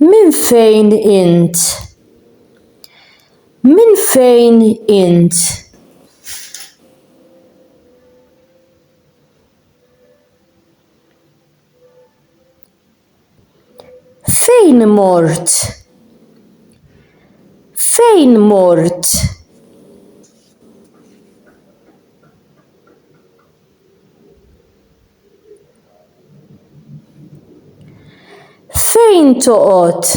Minn fejn int? Minn fejn int? Fejn mort? Fejn mort? Fejn toqgħod?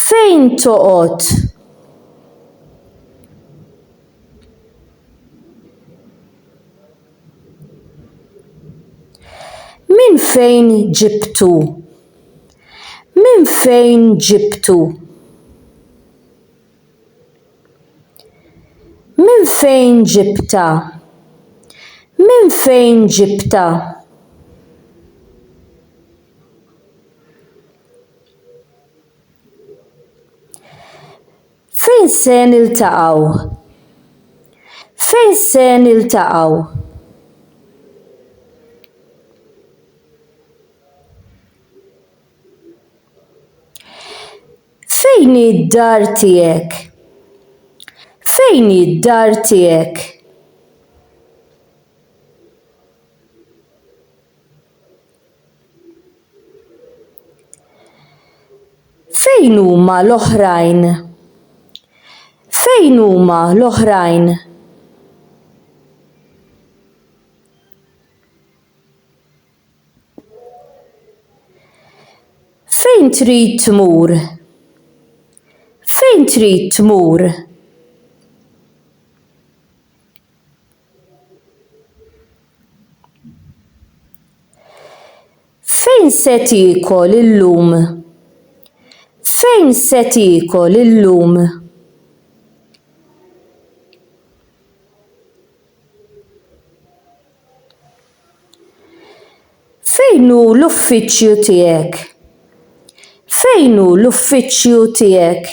Fejn toqgħod? Minn fejn ġibtu? Minn fejn ġibtu? Minn fejn ġibtha? Minn fejn ġibtha? Fejn se niltaqgħu? Fejn se niltaqgħu? Fejn hi d-dar tiegħek? Fejn hi d-dar tiegħek? Fejn huma l-oħrajn? Fejn huma l-oħrajn? Fejn trid tmur? Fejn trid tmur? Fejn se tiekol illum? Fejn se tiekol illum? Fejn hu l-uffiċċju tiegħek? Fejn hu l-uffiċċju tiegħek?